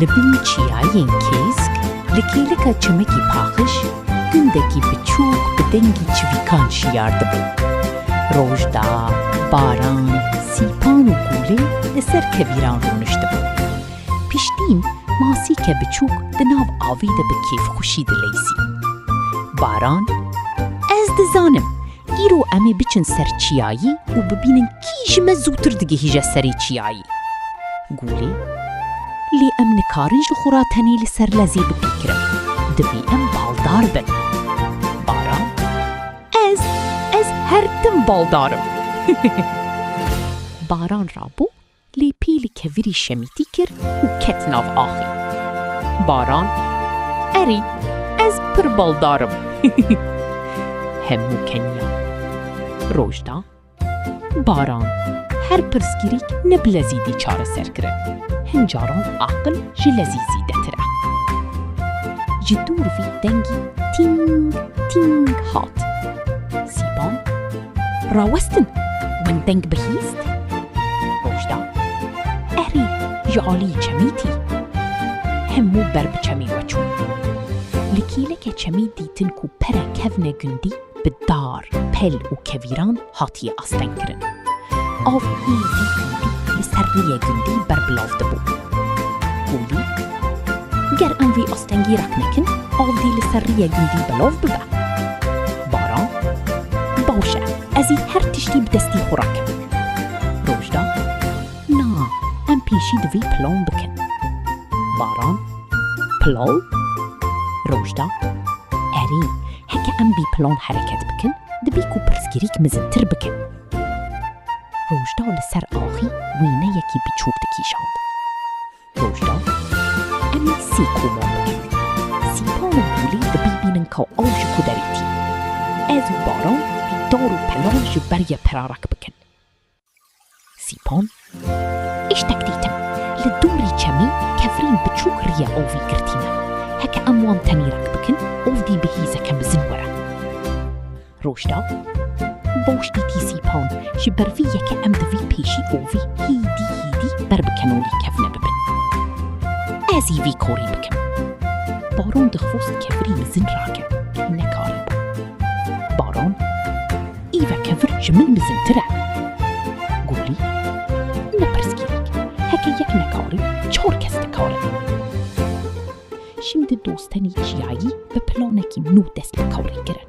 Li bin çiyayên Kêsk li kêlika çimekî paqij gundekî biçûk bi dengî çivîkan şiyar dibin. Roj da, baran, Sîpan û gûlê li ser kevîran rûniştibû. Piştîn masîke biçûk di nav avî de bi kêfxwişî dileysî. Baran, Ez dizanim, îro em ê biçin ser çiyayî û bibînin kî ji me zûtir digihîje serê çiyayî. Gûlê, Lê em nikarin ji xwe re tenê li ser lezê bipîkirin. Divê em baldar bin. Ez, ez her tim baldarim. Baran rabû, lê pîl kevirî şemîtî kir û ket nav axê. Baran, Erî, ez pir baldarim. Hemû keniyan. Roj da. Baran, Her pirsgirîk ne bi lezî dî çareser kirin. Hin caran aqil ji lezî zîdetir e. Ji dûr vî dengî tîng tîng hat. Sîpan, Rawestin, win deng bihîst? Rojda, Erê, ji aliyê çemî tî. Hemû ber bi çemê ve çûn. Li kêleke çemî dîtin ku pere kevne gundî, bi dar, pel û kevîran hatiye astengkirin. Av êdî êdî li ser rûyê gundî berbilav dibû. Holî, Ger em vî astengî rak nekin, av dî li ser rûyê gundî belav bibe. Baran, Baş e, ez ê her tiştî bi destî xwe rakim. Rojda, Na, em pêşî divê plan bikin. Baran, Plan? Rojda, Erê, Heke em bî plan hereket bikin, dibî ku pirsgirîk mizintir bikin. Rojda li ser axî wêneyekî biçûk dikîşand. Rojda, Em ê sê koman bikin. Sîpan û gûlê dibî bînin ka ew ji ku derê tî. Ez û Baran bî dar û pelan ji ber ye perarek bikin. Sîpon, Îştek dîtim. Li dorî çemî kevirîn biçûk riya ovî girtîne. Heke em wan tenîrek bikin ovdî bi hîzeke mizin were. Rojda, Baş dîtî Sîpon, ji ber vî yeke em divî pêşî ovî hîdî hîdî ber bi kenorî kevne bibin. Ez î vî korî bikim. Baron dixwast kevirî mizin rake. Nekarîbû. Baron, Îveke vir ji min mizintir e. Gulî, Ne pirsgirêk, heke yek nekare, çar kes dikare. Şimdi dostenî çiyayî bi planekî nû dest bi karê kirin.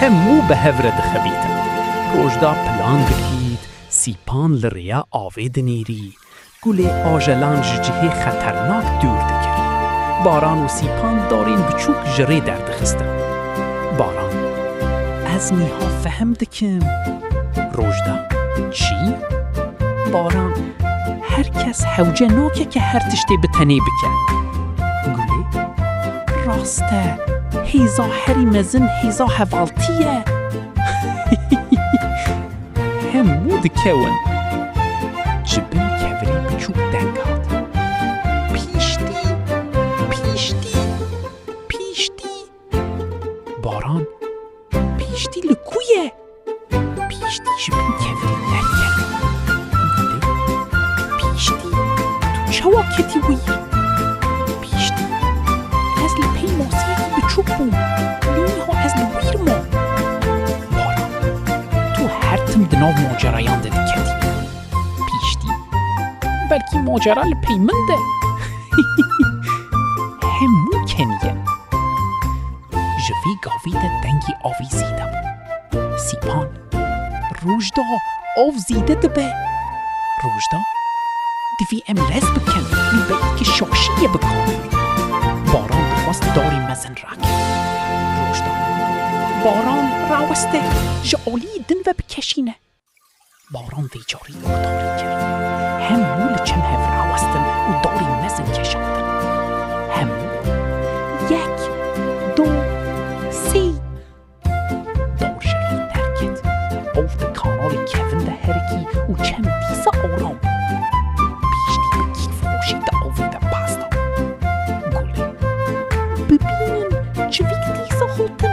Hemû bi hev re dixebîtin. Roj da pilan dikît, sîpan li rêya avê dinîrî, gulê ajelan ji cihê xeternak dûr dikir. Baran û sîpan darên biçûk ji rê derdixistin. Baran, Ez nîha fehm dikim. Roj da, Çî? Baran, Her kes hewce nake ke her tiştê bi tenê bike. Gulê, Rast e, hêza Herî mezin hêza hevaltî ye. Hemû dikewin. Ji bin kevirê biçûk deng hat. Pîştî! Pîştî! Pîştî! Baran, pîştî li ku ye? Piştî ji bin kevê derkevî gote Piştî tu çawa ketî wî yê? Piştî ez li pey masiyekî biçûk bûm lê niha ez li wî re mam. Wara tu her tim di nav macerayan de diketî. Piştî belkî macera li pey min de hemû kenî ye. Ji vî gavî de dengî avî zîde bû. Sîpan, Roj da av zîde dibe. Roj da, Divî em lez bikin wî be îkê şaşîyê bika. Baran dixwast darê mezin rake. Roj da, Baran raweste ji aliyî din ve bikeşîne. Baran vê carî guhdarî kir. Hemû li çem hev rawestin û darî mezin kişandin. Hemû yek, du, sê. Dar şerî derket. Bav di kanalê kevin de herikî û çem dîsa aram bû. Piştî bi kîfxweşî di avê de pez da. Gulên. Bibînin civîk dîsa hatin.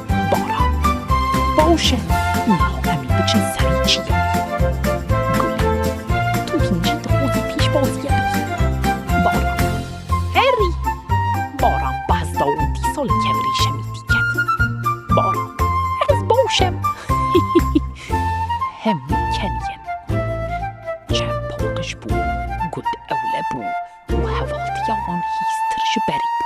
Baran. Baş e, îro em ê biçin serê çî ye. Gul. Tu kincî dixwazî pîşbazîye bikî. Baran. Herî. Baran bi hezda û dî sal li kevirê şemê dîket. Baran. Ez baş em. Hemû kel yên. Çem paqij bû, gund ewle bû û hevatiya wan hîstir ji berê bû.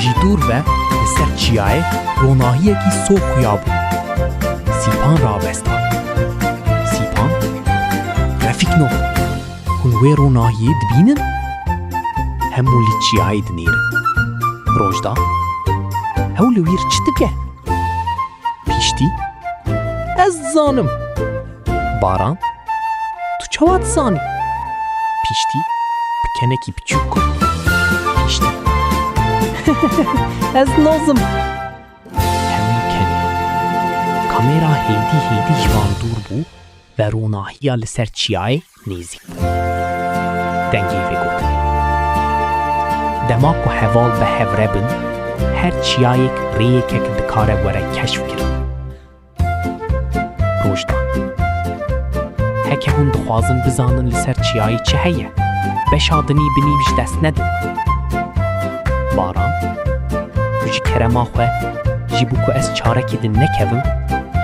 Ji dûr ve li ser çiyayê ronahiyekî so xuya bû. Sîpan ravestan. Sîpan, Refîk no, hûn wê ronahiyê dibînin? Hemû li çiyayê dinêrin. Rojda, Ew li wîr çi dike? Pîştî, Ez dizanim. Baran, tu çawa dizanî? Piştî bi kenekî biçûk got. Piştî. Ez nazim. Hemû keniya. Kamera hêdî hêdî ji wan dûr bû ve ronahiya li ser çiyayê nêzîk bû. Dengê vê got. Dema ku heval bi hev re bin, her çiyayêk rêyêkek dikare were keşf kirin. Rojda Heke hûn dixwazin bizanin li ser çiyayê çi heye, beşa dinî bi nîv ji dest nedin. Baran Tu ji kerema xwe, ji bo ku ez çarekê din nekevim,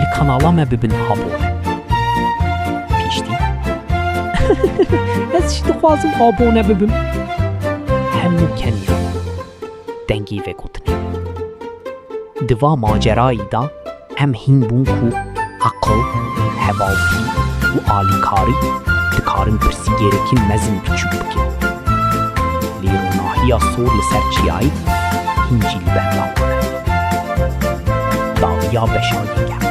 li kanala me bibin abone. Piştî Ez jî dixwazim abone bibim. Hemû keniyan. dengî vegotinê. Di va macerayî de em hîn bûn ku eqil, hevaltî û alîkarî dikarin pirsî gêrekî mezin biçûk bikin. Lê ronahiya sor li ser çiyayî hîn jî li benda wan e. Dawiya beşa yekem.